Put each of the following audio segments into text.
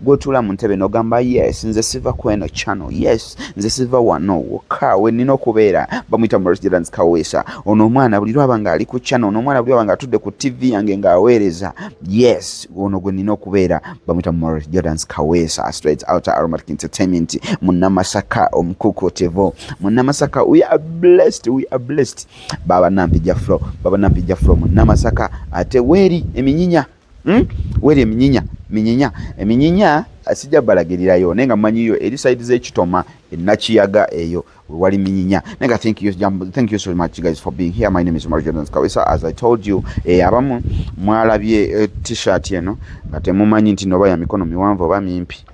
gwotula mu ntebe nogamba yes nze siva kweno channel yes nze siva wano wokka wenina okubeera bamuyita murjidans kaweesa ono omwana buli lwaba nga ali ku channel ono omwana buli lwaba nga atudde ku tv yange ng'aweereza yes ono gwe nina okubeera bamuyita murjidans kaweesa straight out aromatic entertainment munamasaka omukukutevo munamasaka we are blessed we are blessed baba nampija flo baba nampija flo munamasaka ate weeri eminyinya Hmm? Wera eminyinya minyinya eminyinya eh, sijja balagirirayo naye nga mumanyiyo eri side z'ekitoma enakiyaga eyo wewali minyinya naye nga thank you, thank you so much guys for being here my name is Omar Jordan Kawesa as I told you eh, abamu mwalabye eh, t-shirt eno nga temumanyi nti noba ya mikono miwanvu oba mimpi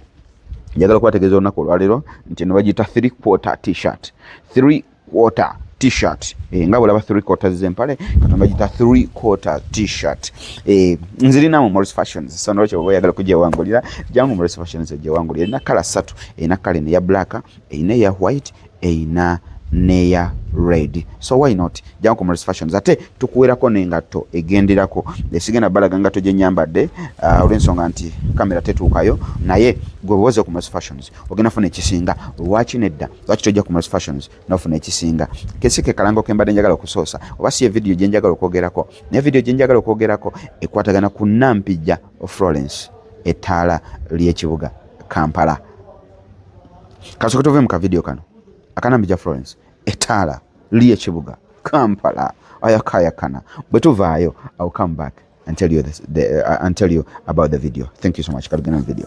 njagala kubategeeza olunaku olwaleero nti eno bagiyita three quarter t-shirt three quarter t-shirt e, nga bwolaba three quarters zempale katonda gita three quarter t-shirt e, eh, nzirina mu morris fashions so nolwekyo oba oyagala kujewangulira jangu morris fashions ejewangulira erina kala satu erina kala eno eya black erina eya white erina neya red so why not jangu ku morris fashions ate tukuwerako nengatto egenderako esigenda balaga ngatto gyenyambadde uh, olwensonga nti kamera tetuukayo naye gwe bwoze ku morris fashions ogenda funa ekisinga lwaki nedda lwaki tojja ku Mos Fashions nofuna ekisinga kesi ke kalango ke mbadde njagala okusoosa oba si evidiyo gye njagala okwogerako naye vidiyo gye njagala okwogerako ekwatagana ku Nampijja Florence ettaala ly'ekibuga Kampala kasooke tove mu kavidiyo kano akanampijja Florence ettaala ly'ekibuga Kampala ayakayakana bwe tuvaayo I will come back and tell you, this, the, uh, and tell you about the video thank you so much katugenda mu video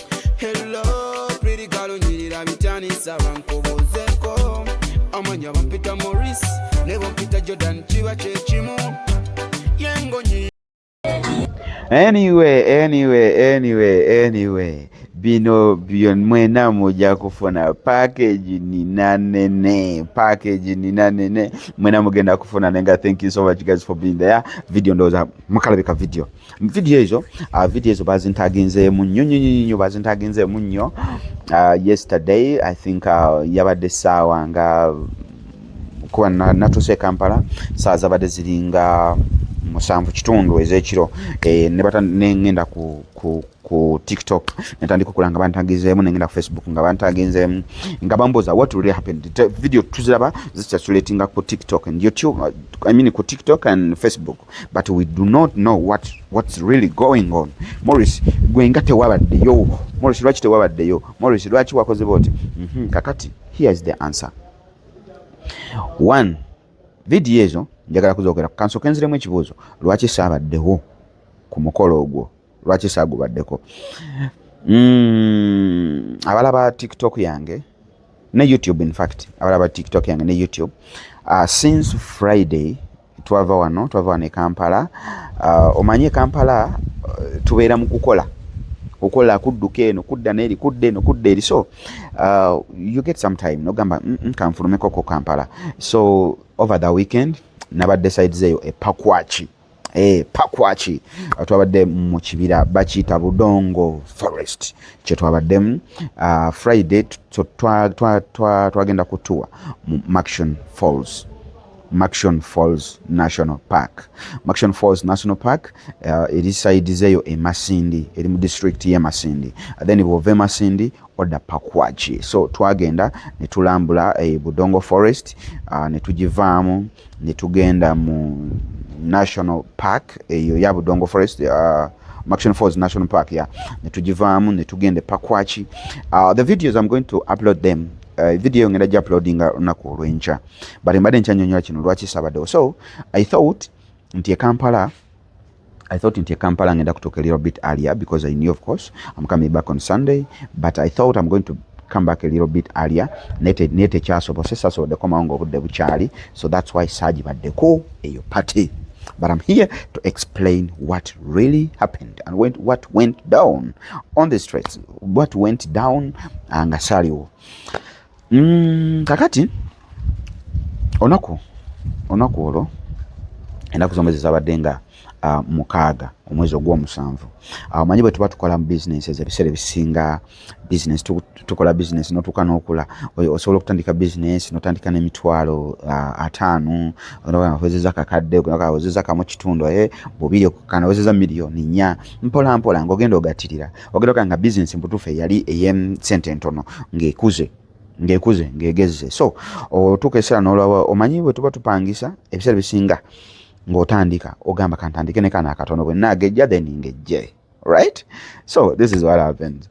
Hello, pretty girl, unyirira bitani saba nkubuzeko Amanya bampita Maurice, ne bampita Jordan kiba kyekimu Yengo nyi Anyway, anyway, anyway, anyway bino byo mwena muja kufuna package nina nene package nina nene mwena mugenda kufuna nenga thank you so much guys for being there video ndoza mukalabika video video ezo uh, video ezo bazintaginzeemu nnyo nnyo nnyo bazintaginzeemu nnyo uh, yesterday i think uh, yabadde essaawa nga kuba natuuse e kampala saa zabadde ziringa musanvu kitundu ezekiro eh, nengenda ku, ku, ku tiktok netandika okulanga bantagizeemu nengenda ku facebook nga bantaginzeemu nga bambuuza what really happened video tuziraba zikyaculetinga ku tiktok and youtube I mean ku tiktok and facebook but we do not know what what's really going on Morris gwe nga tewabaddeyo Morris lwaki tewabaddeyo Morris lwaki wakoze boti mm -hmm. kakati here is the answer one vidiyo ezo njagala kuzogera kansoke nziremu ekibuuzo lwaki saabaddewo ku mukolo ogwo lwaki saagubaddeko mm, abala ba tiktok yange ne youtube infact abala ba tiktok yange ne youtube uh, since friday twava wano twava wano e kampala uh, omanyi e kampala uh, tubeera mu kukola okola kudduka eno kudda neeri kudda eno kudda eri so uh, you get some time nogamba mm, mm, kanfulumeko ko kampala so over the weekend nabadde sides eyo epakwaki eh, pakwaki uh, twabadde mu kibira bakiyita budongo forest kyetwabaddemu uh, friday twagenda kutuwa mu maction falls Maxon Falls National Park. Maxon Falls National Park uh, eri side zeyo e Masindi, eri mu district ye Masindi. Uh, then bwove Masindi oda Pakwachi. So twagenda ne tulambula e eh, Budongo Forest, uh, ne tujivaamu, ne tugenda mu National Park eyo eh, ya Budongo Forest uh, Maxon Falls National Park ya ne tujivaamu ne tugenda e Pakwachi. Uh, the videos I'm going to upload them. Uh, video ngenda ja uploadinga unaku olwenkya. but mbadde nkyanyonyola kino lwaki sabaddewo so i thought nti ekampala I thought in Kampala ngenda kutoka a little bit earlier because I knew of course I'm coming back on Sunday but I thought I'm going to come back a little bit earlier nete nete chaso bose saso de koma ngo bude buchali so that's why saji ba deko eyo party but I'm here to explain what really happened and went, what went down on the streets what went down angasaliwo Mm, kakati onaku onaku olwo enaku zombe zezabadde nga uh, mukaaga omwezi ogwomusanvu awo ah, manyi bwe tuba tukola mu bizinensi ezo ebiseera ebisinga bizinensi tukola bizinensi notuuka n'okula osobola okutandika bizinensi notandika n'emitwalo ah, ataano owezeza kakadde owezeza kamu kitundu eh, bubiri okukana owezeza miliyoni nnya mpola mpola ngaogenda ogatirira ogenda ogaa nga bizinesi mubutuufu eyali eyesente entono ngaekuze ngaekuze ngaegezze so otuuka ekiseera nolaba omanyi bwe tuba tupangisa ebiseera bisinga ng'otandika ogamba kantandike ne kana akatono bwe naagejja then ngejje right so this is what happens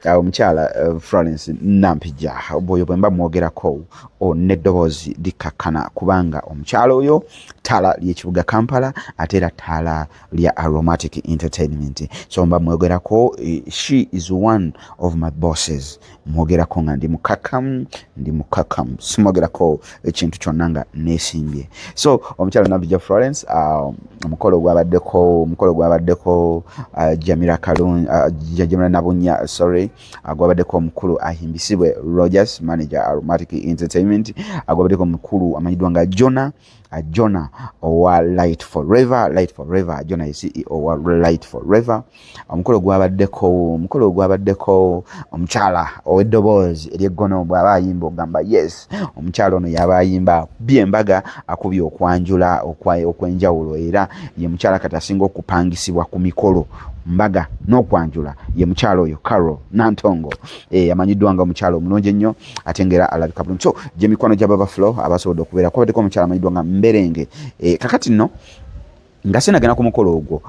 uh, omukyala uh, uh, florence nampija bwoyo bwe mba mwogerako oh, neddoboozi likkakkana kubanga omukyala oyo ttaala ly'ekibuga kampala ate era ttaala lya aromatic entertainment so mba mwogerako eh, she is one of my bosses mwogerako nga ndi mukakamu ndi mukakamu simwogerako ekintu kyonna nga nesimbye so omukyalo nabija florence ah, omukolo gwabaddeko omukolo gwabaddeko ah, jamira kalun ah, jamira nabunya sorry gwabaddeko omukulu ahimbisibwe rogers manager aromatic entertainment gwabaddeko omukulu amanyiddwa nga jona Uh, Jonah owa Light Forever, Light Forever, Jonah ye CEO owa Light Forever. Omukolo gwabaddeko, omukolo gwabaddeko omukyala ow'eddoboozi ery'eggono bw'aba ayimba ogamba yes, omukyala ono y'aba ayimba akubye embaga, akubye okwanjula okw'enjawulo era ye mukyala kati asinga okupangisibwa ku mikolo mbaga n'okwanjula ye mukyala oyo Carol Nantongo eyamanyiddwa eh, nga omukyala omulungi ennyo ate nga era alabika bulungi so gye mikwano gya baba flow abasobodde okubeera kwabaddeko omukyala amanyiddwa nga mberenge e, kakati nno nga sinagenda ku mukolo ogwo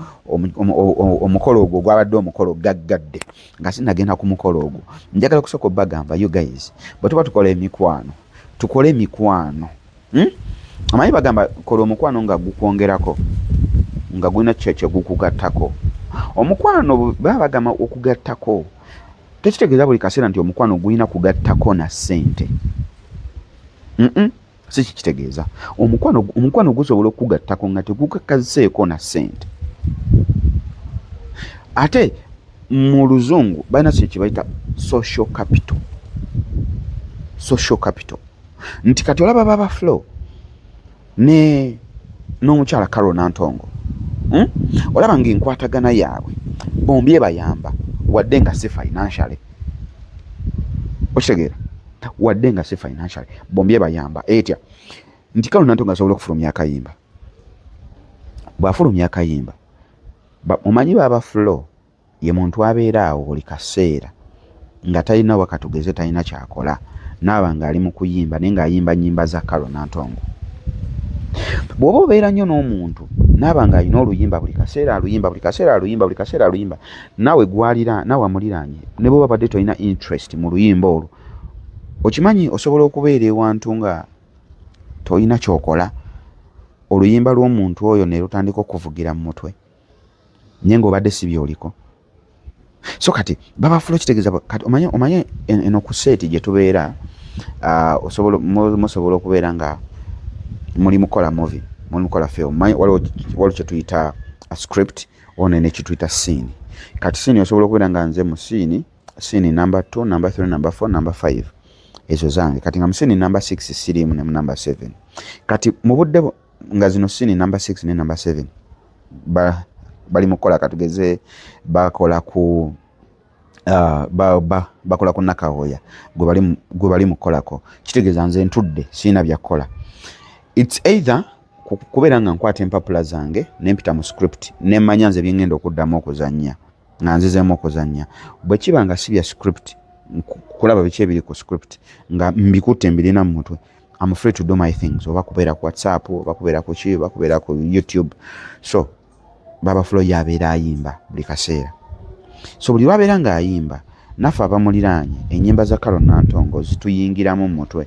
omukolo ogwo gwabadde omukolo gaggadde nga sinagenda ku mukolo ogwo njagala kusooka obagamba you guys bwe tuba tukola emikwano tukole emikwano hmm? amanyi bagamba kola omukwano nga gukwongerako nga gulina kyo kyegukugattako omukwano baba bagamba okugattako tekitegeeza buli kaseera nti omukwano gulina kugattako na ssente si kikitegeeza omukwano gusobola okukugattako nga tegukakaziseeko na ssente ate mu luzungu balina kino kyebayita social capital social capital nti kati olaba baba flow ne n'omukyala Carol Nantongo hmm? olaba nga enkwatagana yaabwe bombi ebayamba wadde nga si financially okitegeera wadde nga si financially bombi ebayamba etya nti Carol Nantongo asobola okufulumya akayimba bw'afulumya akayimba omanyi baaba flow Ye muntu abeera awo buli kaseera nga talina oba katugeze talina kyakola naaba nga ali mu kuyimba naye ng'ayimba nnyimba za Carol Nantongo. Bw'oba obeera nnyo n'omuntu naaba ng'alina oluyimba buli kaseera aluyimba buli kaseera aluyimba buli kaseera aluyimba naawe gwalira naawe amuliraanye ne bw'oba badde tolina interest mu luyimba olwo okimanyi osobola okubeera ewantu nga tolina kyokola oluyimba lw'omuntu oyo ne lutandika okuvugira mu mutwe. naye ngaobadde si byoliko so kati babafula okitegeeza kati omanye omanye eno ku seeti gye tubeera ah, osobola musobola okubeera nga muli mukola movi muli mukola film manyi waliwo kyetuyita a script one nekyetuyita siini kati siini osobola okubeera nga nze mu siini siini number two number three number four number five ezo zange kati nga musiini number six siriimu ne mu number seven kati mu budde nga zino sini number six ne number seven ba, bali mukukola katugeze bakola ku Uh, ba, ba, bakola ku nakawoya gwe bali mukukolako kitegeeza nze ntudde siina byakukola its either kubeera nga nkwata empapula zange nempita mu script nemanya nze byengenda okuddamu okuzanya nga nzizemu okuzanya bwekiba nga si bya script kulaba biki ebiri ku script nga mbikutte mbirina mu mutwe I'm free to do my things oba kubeera ku whatsapp oba kubeera ku ki oba kubeera ku youtube so baba fulo yabeera ayimba buli kaseera so buli lwabeera ng'ayimba naffe abamuliraanye enyimba za karo nantongo zituyingiramu mu mutwe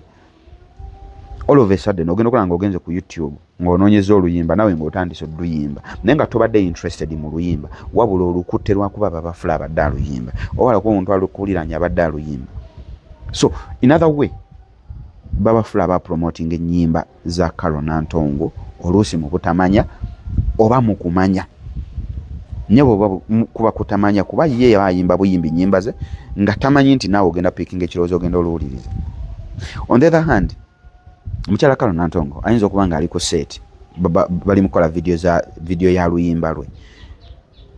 all of a sudden ogenda okola nga ogenze ku youtube ng'onoonyeza oluyimba nawe ng'otandise oluyimba naye nga tobadde interested mu luyimba wabula olukutte lwakuba babafula abadde aluyimba oba lakuba omuntu alukuwuliranye abadde aluyimba so in other way Babafula aba promoting ennyimba za Carol Nantongo oluusi mu butamanya oba mu kumanya naye bwoba kuba kutamanya kuba ye yaba ayimba buyimbi nyimba ze nga tamanyi nti naawe ogenda pikinga ekirowoozo ogenda oluwuliriza on the other hand omukyala kalo nantongo ayinza okuba nga ali ku set bali mukola vidiyo za vidiyo ya luyimba lwe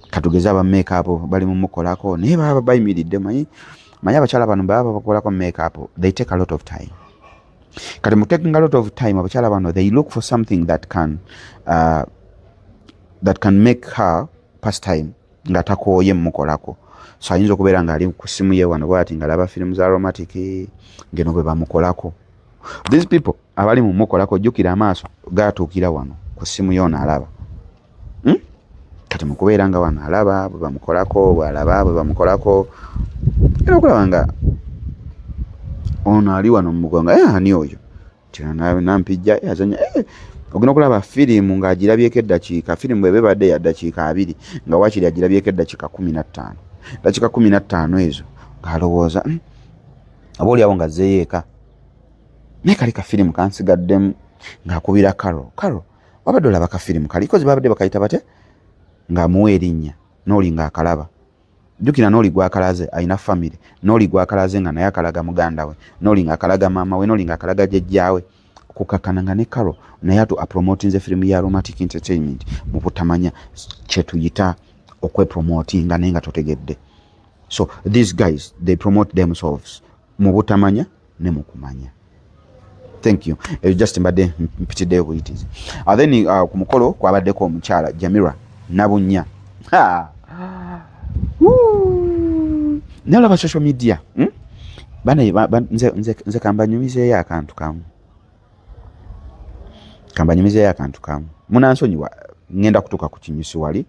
katugeze abameeka abo bali mumukolako naye baba bayimiridde manyi manya abakyala bano baba babakolako makeup they take a lot of time kati mu taking a lot of time abakyala bano they look for something that can uh, that can make her pass time nga takooye mumukolako so ayinza okubeera nga ali ku simu ye wano bwati nga laba firimu za aromatic ngeno bwe bamukolako these people abali mumukolako jjukira amaaso gatuukira wano ku simu yoona alaba hmm? kati mukubeera nga wano alaba bwebamukolako bwalaba bwebamukolako era okulaba nga ono ali wano mumugonga eh, ani oyo nampijja eh, azanya eh, ogenda okulaba firimu ng'agirabyeko eddakiika firimu bweba ebadde ya ddakiika abiri nga wakiri agirabyeko eddakiika kumi na ttaano eddakiika kumi na ttaano ezo ng'alowooza hmm, oba oliawo nga zeeyo eka naye kali kafirimu kansigaddemu ng'akubira karo karo wabadde olaba ka firimu kali kozi babadde bakayita bate ng'amuwa erinnya n'oli ng'akalaba jjukira n'oli gwakalaze alina famire n'oli gwakalaze nga naye akalaga muganda we n'oli ng'akalaga maama we n'oli ng'akalaga jjajjaawe kukakana nga ne karo naye atu apromotinze firimu ya aromatic entertainment mu butamanya kyetuyita okwepromotinga naye nga totegedde so these guys they promote themselves mu butamanya ne mu kumanya thank you ebyo just mbadde mpitiddeyo buyitizi uh, then uh, ku mukolo kwabaddeko omukyala jamira nabunya nalaba social media hmm? bana nze, nze, nze kambanyumizeeyo akantu kamu kambanyumizeyo akantu kamu munansonyiwa ngenda kutuka ku kinyusi wali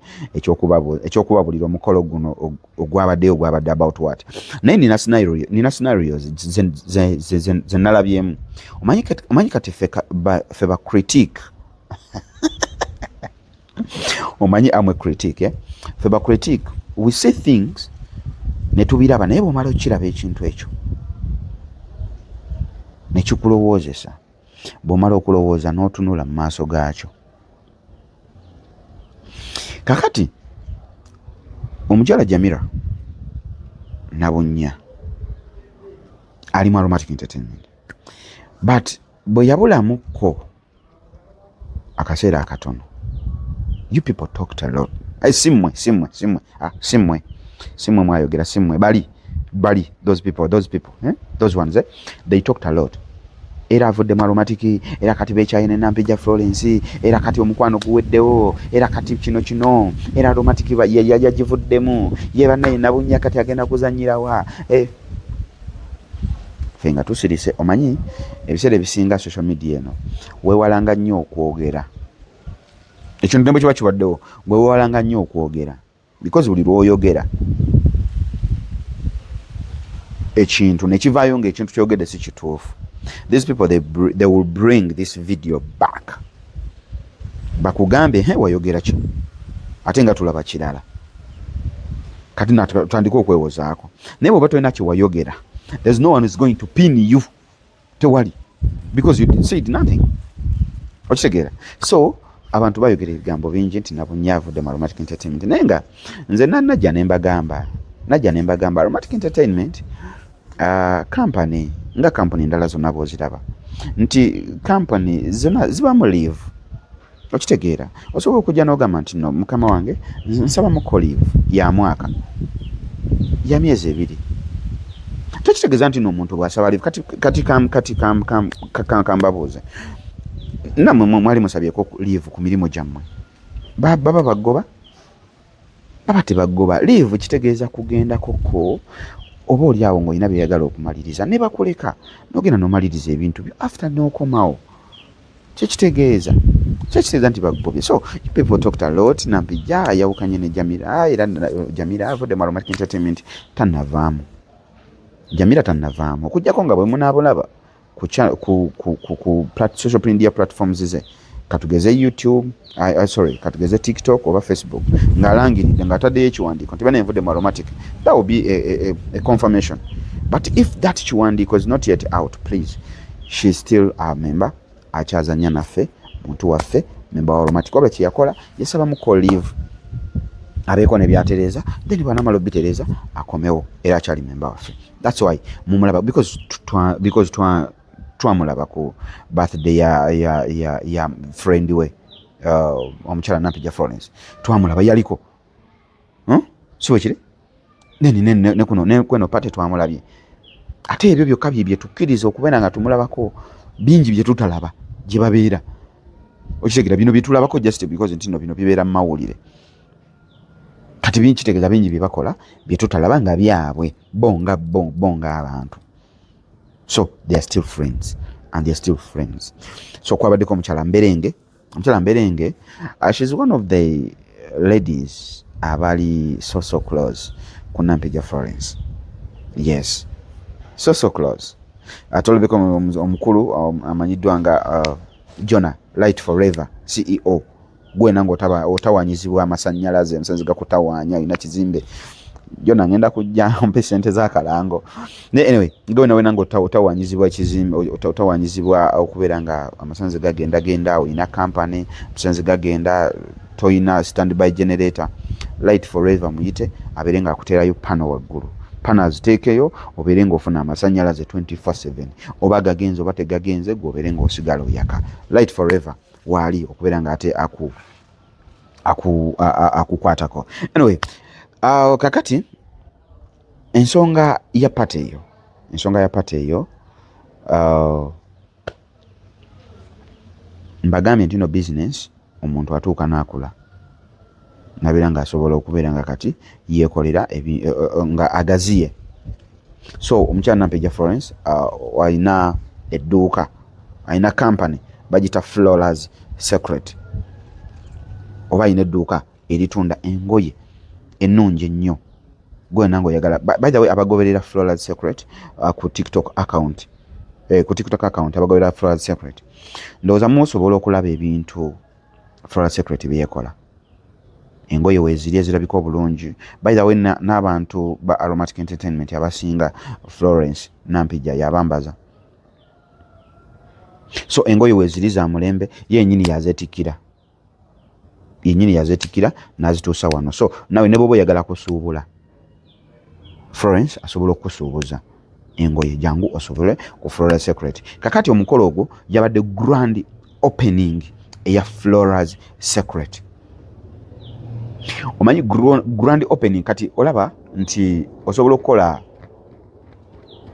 ekyokubabulira omukolo guno ogwabaddeyo ogwabadde about what naye nina scenarios zenalabyemu omanyi kati fe ba critique omanyi amwe critic eh? fe ba critic we see things netubiraba naye bwomala okukiraba ekintu ekyo nekikulowoozesa bwomala okulowooza n'otunula mu maaso gaakyo kakati omukyala jamira nabunnya alimu aromatic entertainment but bwe yabulamukko akaseera akatono you people talked a lot hey, simwe simwe simwe ah, simwe simwe mwayogera simwe bali bali those people those people eh? those ones eh? they talked a lot era avudde mu aromatiki era kati bekyaye ne nampija florence era kati omukwano guweddewo era kati kino kino era aromatiki yagivuddemu ye banaye nabunya kati agenda kuzanyirawa eh. fe nga tusirise omanyi ebiseera ebisinga social media eno wewalanga nnyo okwogera ekintu nemwe kiba kibaddewo wewalanga nnyo okwogera because buli lwoyogera ekintu nekivaayo nga ekintu kyogedde si kituufu these people they, they will bring this video back bakugambye he wayogera kino ate nga tulaba kirala kati natandika okwewozaako naye bwoba tolina kyewayogera there's no one is going to pin you tewali because you said nothing okitegeera so abantu bayogera ebigambo bingi nti nabunye avudde mu aromatic entertainment naye nga nze nanajja nembagamba najja nembagamba aromatic entertainment kampani ah, uh, nga kampani endala zonna bwoziraba nti kampani zona zibamu live okitegeera osobola okujja nogamba nti no mukama wange nsaba muko live ya mwaka ya myezi ebiri tekitegeeza nti no omuntu bwasaba live kati kati kam kati kam kam kam kambabuuze namwe mwali musabyeko live ku mirimu gyammwe baba bagoba baba tebagoba liivu kitegeeza kugendakoko oba oli awo ng'olina byeyagala okumaliriza ne bakuleka nogenda nomaliriza ebintu byo after nokomawo kyekitegeeza kyekitegeeza nti bagobye so people talked a lot nampijja ayawukanye ne jamira era jamira avudde mu aromatic entertainment tanavaamu jamira tanavaamu okujjako nga bwemunaabulaba ku, ku, ku, ku, ku plat, social media platforms ze katugeze youtube I, I, sorry katugeze tiktok oba facebook ng'alangiridde ng'ataddeyo ekiwandiiko nti bana envudde mu aromatic that will be a, a, a confirmation but if that kiwandiiko is not yet out please she still a member akyazanya naffe muntu waffe member wa aromatic oba kyeyakola yasaba muko leave abeeko ne byatereeza then bwanamala obitereeza akomewo era akyali member waffe that's why mumulaba because twa because twa twamulaba ku birthday ya ya ya, ya friend we uh, omukyala nampija florence twamulaba yaliko huh? Hmm? siwe kiri neni neni ne, ne kuno ne kweno pate twamulabye ate ebyo byokka bye byetukkiriza okubeera nga tumulabako bingi bye tutalaba gye babeera okitegera bino bye tulabako just because ntino bino bibeera mu mawulire kati bingi kitegeeza bingi bye bakola bye tutalaba nga byabwe bo nga bo bo ng'abantu so they are still friends and they are still friends so kwabaddeko omukyala mberenge omukyala mberenge uh, she's one of the ladies abali so so close ku nampija florence yes so so close atolobeko omukulu um, amanyiddwa nga uh, jona light forever ceo gwe nange otawanyizibwa amasanyalaze omusenzi gakutawanya olina kizimbe jona ngenda kujja mpe sente zakalango naye anyway nga wena wena nga otawanyizibwa ekizimbe otawanyizibwa okubeera nga amasanzi gagenda genda olina kampany amasanzi gagenda toyina standby generator light forever muyite abeere nga akuteerayo pano waggulu pano aziteekeyo obeere ngaofuna amasanyalaze 24/7 oba gagenze oba tegagenze gwe obeere ngaosigala oyaka light forever waali okubeera nga ate aku akukwatako aku, aku anyway uh, kakati ensonga ya pate eyo ensonga ya pate eyo uh, mbagambye ntino business omuntu atuuka naakula nabeera nga asobola okubeera nga kati yekolera e, e, e, nga agaziye so omukyala nampeja florence uh, alina edduuka alina company bagita flowers secret oba alina edduuka eritunda engoye ennungi ennyo gwena nga oyagala by the way abagoberera flowers secret uh, ku tiktok account eh, ku tiktok account abagoberera flowers secret ndowooza musobola okulaba ebintu Flora Secret byekola engoye weziri ezirabika obulungi by the way n'abantu ba aromatic entertainment abasinga Florence Nampijja yabambaza so engoye weziri za mulembe yenyini yazetikira yenyini yazetikira nazituusa wano so nawe ne bwoba oyagala kusuubula florence asobola okukusuubuza engoye jangu osobole ku flora secret kakati omukolo ogwo yabadde grand opening eya floras secret omanyi grand opening kati olaba nti osobola okukola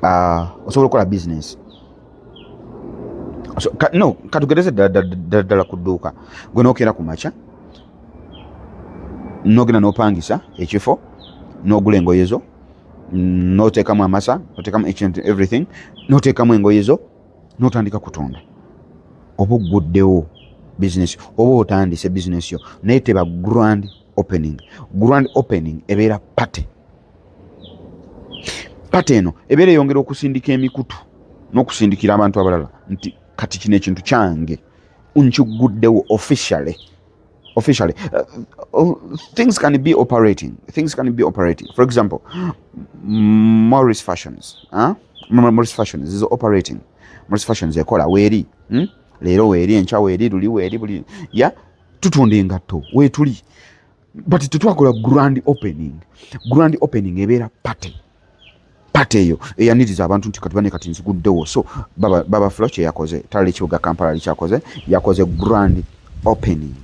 uh, osobola okukola bizinesi so, ka, no katugereze ddala ku dduuka gwe nokeera ku makya nogenda nopangisa ekifo nogula engoye zo notekamu amasa notekamu each and everything notekamu engoye zo notandika kutunda oba ogguddewo bizinesi oba otandise bizinesi yo naye teba grand opening grand opening ebeera party pata eno ebeera eyongera okusindika emikutu n'okusindikira abantu abalala nti kati kino ekintu kyange nkiguddewo officially officially uh, uh, things can be operating things can be operating for example morris fashions huh? morris fashions is operating morris fashions ekola weeri hmm? leero weeri enkya weeri luli weeri buli ya tutunda engatto weetuli but tetwakola grand opening grand opening ebeera party party eyo eyaniriza abantu nti kati bane kati nziguddewo so baba, baba flo kyeyakoze talala ekibuga kampala likyakoze yakoze grand opening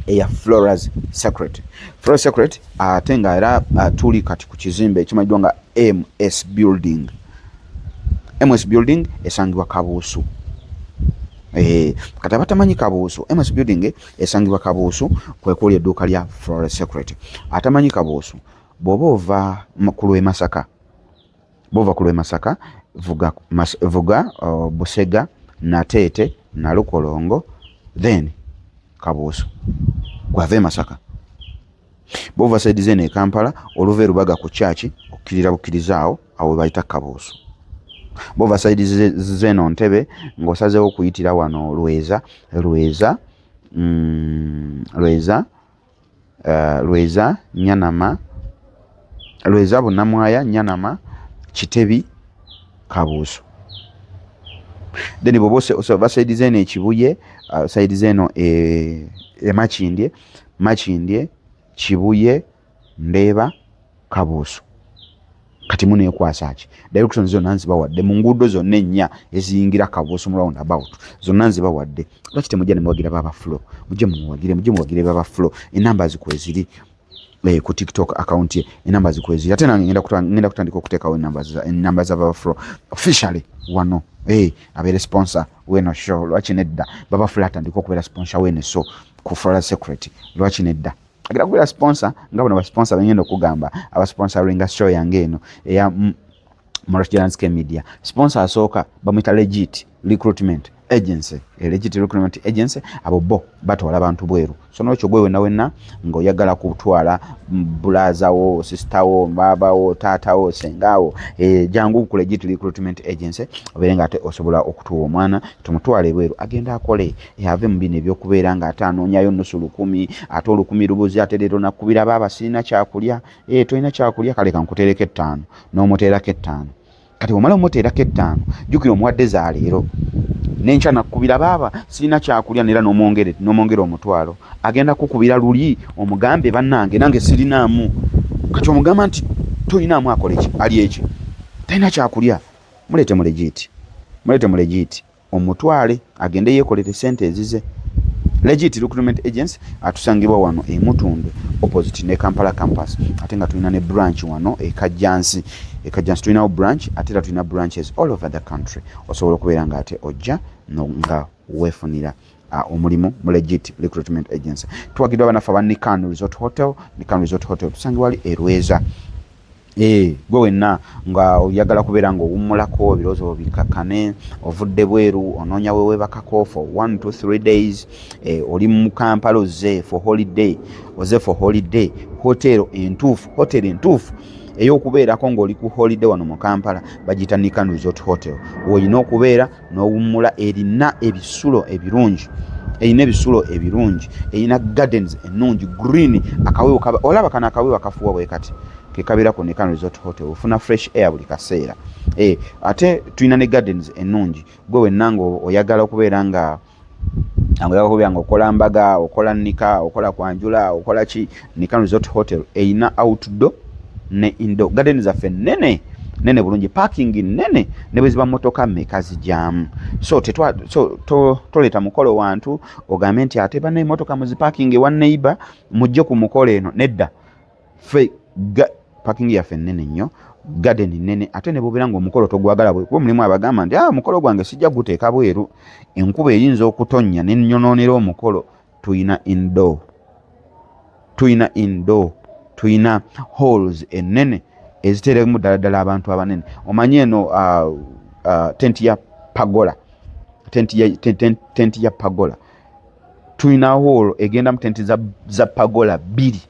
eya floras secret floras secret ate nga era tuli kati ku kizimbe ekimanyiddwa nga ms building ms building esangibwa kabuusu eh, kati abatamanyi kabuusu ms building esangibwa kabuusu kwekuuli edduuka lya flore secret atamanyi kabuusu bwoba ova ku lwe masaka bova ku lwe masaka vuga, mas, vuga uh, busega nateete nalukolongo then kabuusu gwava e masaka Bovasayidi z'eno e Kampala oluva e Lubaga ku kyaki okukirira bukiriza awo awo we bayita Kabuusu. Bovasayidi z'eno Ntebe ng'osazeewo okuyitira wano Lweza Lweza mm, Lweza eh, Lweza Nyanama Lweza Bunamwaya Nyanama Kitebi Kabuusu. Then bwoba osayidi z'eno e Kibuye, osayidi uh, z'eno e, e Makindye makindye kibuye ndeeba kabuusu kati munekwasa ki direction zonna nzibawadde mu nguudo zonna ennya eziyingira kabuusu mu round about zonna nzibawadde lwaki temujja nemuwagira baba flo mujje mumuwagire mujje muwagire baba flo enamba zikweziri eh, ku tiktok account ye enamba zikweziri ate nange ngenda kutandika okuteekawo enamba za baba flo officially wano hey, eh, abeere sponsor weno show lwaki nedda baba flo atandika okubeera sponsor wene so ku Flora Secret lwaki nedda agenda kugula sponsor nga bano basponsa bengenda okugamba abasponsoringa show yange eno eya Morasjalanske Media sponsor asooka bamuyita legit recruitment agency e legit recruitment agency abo bo batwala abantu bweru so nokyo gwe wena wena ngaoyagala kutwala bulaza wo sister wo baba wo taata wo senga wo e, jangu ku legit recruitment agency obeere nga ate osobola okutuwa omwana tumutwale bweru agenda akole ave mu bino ebyokubeera nga ate anoonyayo nusu lukumi ate olukumi lubuzi ate leero nakubira baaba sirina kyakulya e eh, tolina kyakulya kale kankuteereko ettaano n'omuteerako ettaano kati omala omuteerako ettaano jjukira omuwadde za leero nenkya nakubira baaba sirina kyakulya neera nomwongera omutwalo agenda kukubira luli omugambe bannange nange sirinaamu kati omugamba nti tolinaamu akoleki ali eki talina kyakulya muleete mulegiiti muleete mulegiiti omutwale agende yekolere sente ezize legit recruitment agency atusangibwa wano emutundwe opposite ne kampala campus ate nga tulina ne branch wano ekajjansi ekajjansi tulinawo branch ate era tulina branches all over the country osobola okubeera nga ate ojja nga wefunira Ah, omulimu mu legit recruitment agency tuwagidwa abanafe aba nikan resort hotel nikan resort hotel tusange wali erweza eh, gwe wenna nga oyagala kubeera nga owummulako ebirowoozo byo bikakkane ovudde bweru onoonya wewebakako for one to three days eh, oli mu kampala oze for holiday oze for holiday hotel entuufu hotel entuufu ey'okubeerako ng'oli ku holiday wano mu kampala bagiyita nikan resort hotel woyina okubeera n'owummula erina ebisulo ebirungi erina ebisulo ebirungi erina gardens ennungi green akawewo kaba olaba kano akawewo akafuwa bwe kati kekabeera ku nekano resort hotel ofuna fresh air buli kaseera e, ate tulina ne gardens ennungi gwe wenna nga oyagala okubeera nga angoyaka kubya nga okola mbaga okola nika okola kwanjula okola ki nika resort hotel eyina outdoor ne indo garden zaffe nene nene bulungi parking nene ne bweziba motoka meka zijamu so tetwa so to toleta mukolo wantu ogambe nti ate bana emotoka muzi parking wa neighbor mujje ku mukolo eno nedda ffe pakingi yaffe nnene nnyo garden nnene ate ne bubeera ng'omukolo togwagala bwe kuba mulimu abagamba nti ah omukolo gwange sijja guteeka bweru enkuba eyinza okutonnya ne nnyonoonera omukolo tulina indo tulina indo tulina halls ennene eziteeremu ddala ddala abantu abanene omanyi eno ah, ah, tenti ya pagola tenti ya pagola tulina hoolo egenda mu tenti za, za pagola bbiri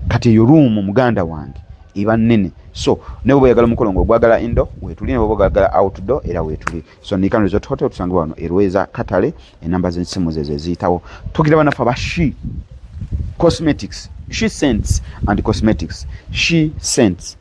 kati eyo ruumu muganda wange eba nnene so ne bwoba oyagala omukolo ngaogwagala indo wetuli neboba ogagala outdoor era wetuli so nikan resort hotel tusangibwa wano erweza katale enamba zensimu zezo eziyitawo tugira banafe aba she cosmetics she sents and cosmetics she sents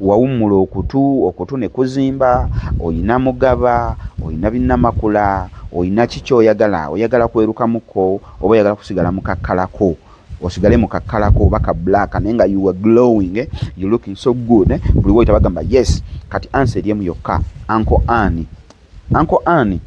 wawummula okutu okutu ne kuzimba olina mugaba olina binnamakula olina ki kyoyagala oyagala kwerukamukko oba oyagala kusigala mukakkalako osigale mukakkalako oba ka black naye nga you are glowing eh? you looking so good eh? buli woyita bagamba yes kati ansa eri emu yokka anko ani Uncle Ann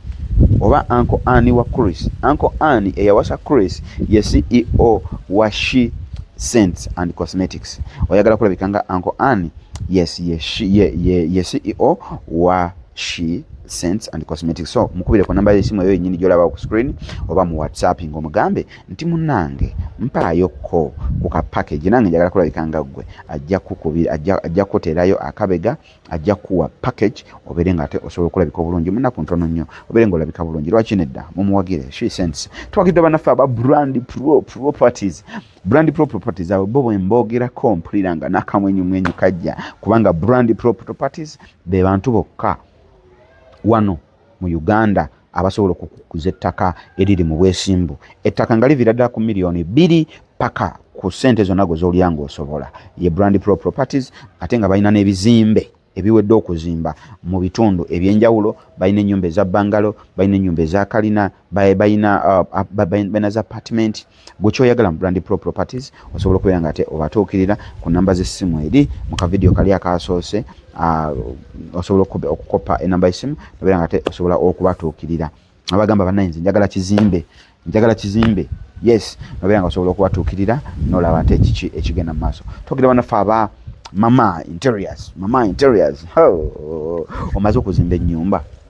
oba Uncle Ann wa Chris. Uncle Ann eyawasa Chris ye CEO wa She Scents and Cosmetics. Oyagala kulabika nga Uncle Ann? Yes, ye, she, ye, ye, ye CEO wa She Scents and Cosmetics. So mukubire ku namba y'essimu eyo yennyini gy'olaba ku screen oba mu WhatsApp ng'omugambe nti munnange mpaayo ko ku ka package nange njagala kulabika nga ggwe ajja kukubira ajja kuteerayo akabega ajja kuwa package obeere nga ate osobola okulabika obulungi munaku ntono nnyo obeere nga olabika bulungi lwaki nedda mumuwagire she sense twagidde banaffe aba brand pro properties brand pro properties abo bo bwembogerako mpulira nga nakamwenyumwenyu kajja kubanga brand pro properties be bantu bokka wano mu Uganda abasobola okukuza ettaka eriri mu bwesimbu ettaka nga liviira ddala ku miliyoni bbiri paka ku ssente zonna gwe zolya ng'osobola ye brand pro properties ate nga balina n'ebizimbe ebiwedde okuzimba mu bitundu ebyenjawulo balina ennyumba eza bangalo balina ennyumba ezakalina balina uh, za apartment gwe kyoyagala mu brand pro properties osobola okubeera nga ate obatuukirira ku namba z'essimu eri mu kavidiyo kali akaasoose ah, osobola okukoppa enamba y'essimu nobeera nga ate osobola okubatuukirira abagamba banaye nze njagala kizimbe njagala kizimbe yes nobeera nga osobola okubatuukirira nolaba ate kiki ekigenda mu maaso tuukira banaffe aba mama interiors mama interiors omaze okuzimba ennyumba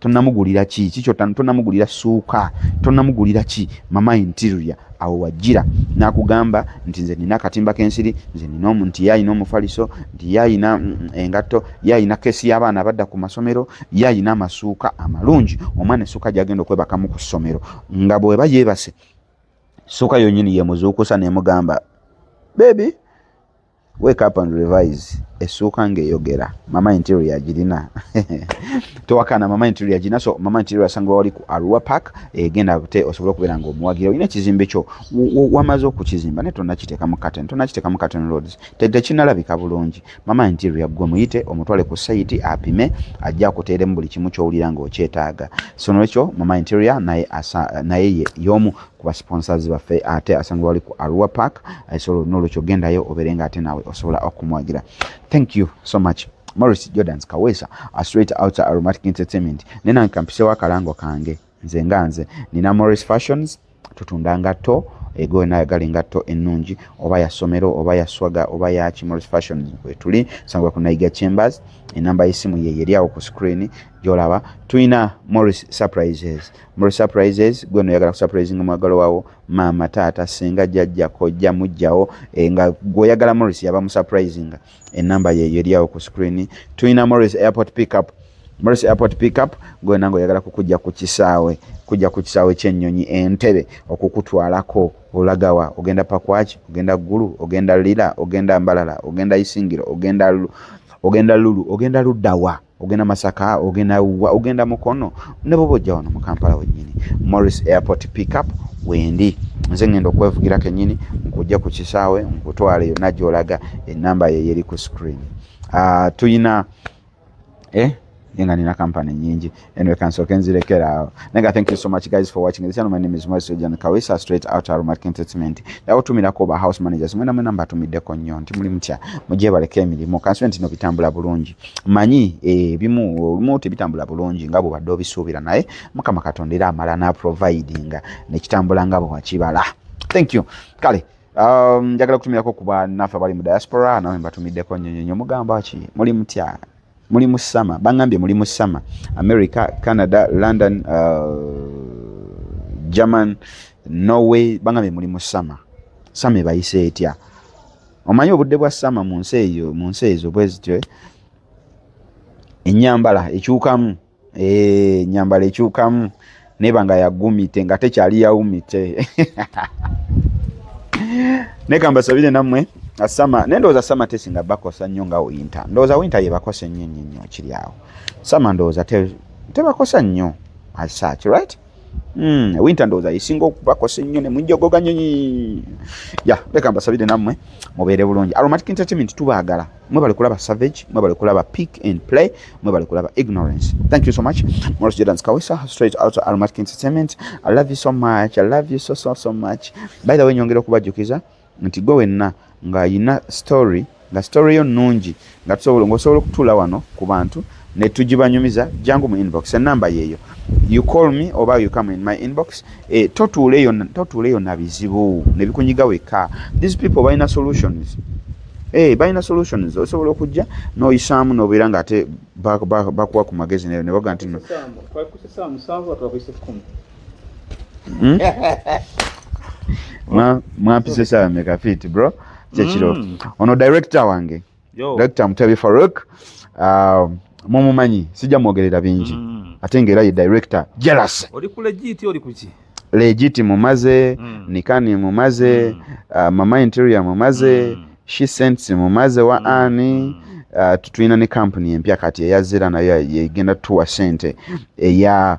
tonamugulira ki kikyo tonamugulira suuka tonamugulira ki mama interior awo wajjira nakugamba nti nze nina akatimba kensiri nze nina nti ye alina omufaliso nti ye alina mm, mm, engatto ye alina kesi y'abaana abadda ku masomero ye alina amasuuka amalungi omwana essuuka gyagenda okwebakamu ku ssomero nga bweba yeebase ssuuka yonyini yemuzuukusa nemugamba bebi Wake up and revise. Esuuka ng'eyogera. Mama interior yagirina. Towakana mama interior yagirina. So mama interior asanga wali ku Arua Park egenda eh, bute osobola okubeera ng'omuwagira. Olina ekizimbe kyo wamaze okukizimba naye tonnakiteeka mu curtain. Tonnakiteeka mu curtain roads. Tekinalabika bulungi. Mama interior gwe muyite omutwale ku sayiti apime ajje akuteeremu buli kimu ky'owulira ng'okyetaaga. So nolwekyo mama interior naye, asa, naye ye y'omu kuba sponsors baffe ate asangibwa wali ku arua park eh, so nolwekyo gendayo obeere nga ate naawe osobola okumwagira thank you so much morris jordans kaweesa a straight out aromatic entertainment nenange kampisewo akalango kange nze nga nze nina morris fashions tutunda ngatto ego yona ayagala engatto ennungi oba ya ssomero oba ya swaga oba ya kimoris fashion wetuli sangwa ku naiga chambers enamba y'essimu ye yeri awo ku screen gyolaba tulina morris surprises Mro surprises gwe no yagala surprising mwagalo wawo mama tata senga jajja kojja mujjawo e, nga gwe yagala Morris yaba mu surprising e number ye yeri yawo ku screen tuina Morris airport pick up Morris airport pick up gwe nango yagala kukujja ku kisawe kujja ku kisawe kyennyonyi entebe okukutwalako olagawa ogenda pakwaki ogenda gulu ogenda lila ogenda mbalala ogenda isingiro ogenda ogenda lulu ogenda ludawa ogenda masaka ogenda wa ogenda mukono ne bwoba ojja wano mu kampala wennyini morris airport pickup wendi nze ngenda okwevugira kennyini nkujja ku kisaawe nkutwale yonna gyolaga enamba yeyeri ku screen uh, tuyina eh? nga nina company nyingi anyway kansoke nzirekeraawo naye thank you so much guys for watching this channel my name is Moise John Kawisa straight out of Market Entertainment yawo tumira ko ba house managers mwena mwena mbatumiddeko nnyo nti muli mutya mujye baleke emirimu kansoke ntino bitambula bulungi manyi ebimu eh, olumu tebitambula bulungi nga bwebadde obisuubira naye mukama katonda era amala naprovidinga nekitambula nga bwewakibala thank you kale um, njagala kutumirako kuba naffe abali mu diaspora nawe mbatumiddeko nyonyonyo mugamba ki muli mutya muli mu sama bangambye muli mu sama america canada london uh, german norway bangambye muli mu sama sama ebayise etya omanyi obudde bwa sama mu nsi eyo mu nsi ezo bwe zityo eh? ennyambala ekyukamu eh, ennyambala ekyukamu neba nga yagumite nga tekyali yawumite nekambasabire nammwe asama naye ndowooza sama tesinga bakosa nnyo nga winta ndowooza winta yebakosa ennyo nnyo nnyo kiri awo sama ndowooza tebakosa nnyo as such right Mm, winter ndowooza yesinga okubakosa ennyo ne munjogoga nyonyi ya leka mbasabire nammwe mubeere bulungi aromatic entertainment tubaagala mwe bali kulaba savage mwe bali kulaba pick and play mwe bali kulaba ignorance thank you so much moros jordans kawesa straight out of aromatic entertainment i love you so much i love you so so so much by the way nyongera okubajjukiza nti gwe wenna nga ayina story nga story yo nungi nga tusobola ngosobola okutula wano ku bantu ne tujibanyumiza jangu mu inbox enamba yeyo you call me oba you come in my inbox e, totuula eyo totuula eyo na bizibu ne bikunyiga wekka these people balina solutions e, balina solutions osobola okujja noyisaamu nobeera nga ate bakuwa ku magezi ne baga nti Hmm? mwampise sawa meka fit bro kyekiro mm. ono director wange Yo. director mutabi faruk uh, mumumanyi sijja mwogerera bingi mm. ate ngaera ye director jealous oli ku legit oli kuki legit mumaze mm. nikani mumaze mm. uh, mama interior mumaze mm. she sents mumaze wa mm. ani mm. Uh, tulina ne kampuni empya kati eyazira nayo yegenda tuwa sente eya yeah.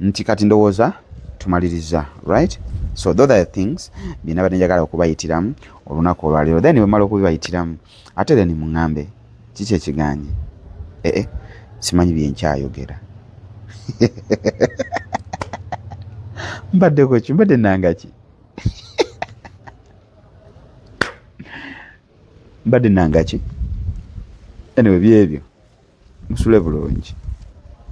nti kati ndowooza tumaliriza right so those are things byena bade njagala okubayitiramu olunaku olwaleero then bwemala okubibayitiramu ate then muŋambe kiki ekiganye ee eh, eh, simanyi byenkyayogera mbaddeko ki mbadde nangaki mbadde nangaki anyway byebyo musule bulungi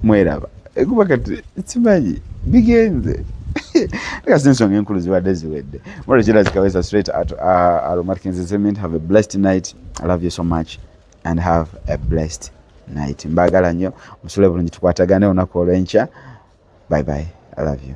mweraba ekuba kati simanyi bigenze kasi ensonga enkulu zibadde ziwedde mwalo kirazikaweza straight at uh, aromatic entertainment have a blessed night i love you so much and have a blessed night mbagala nnyo musule bulungi tukwatagane olunaku olwenkya bye bye i love you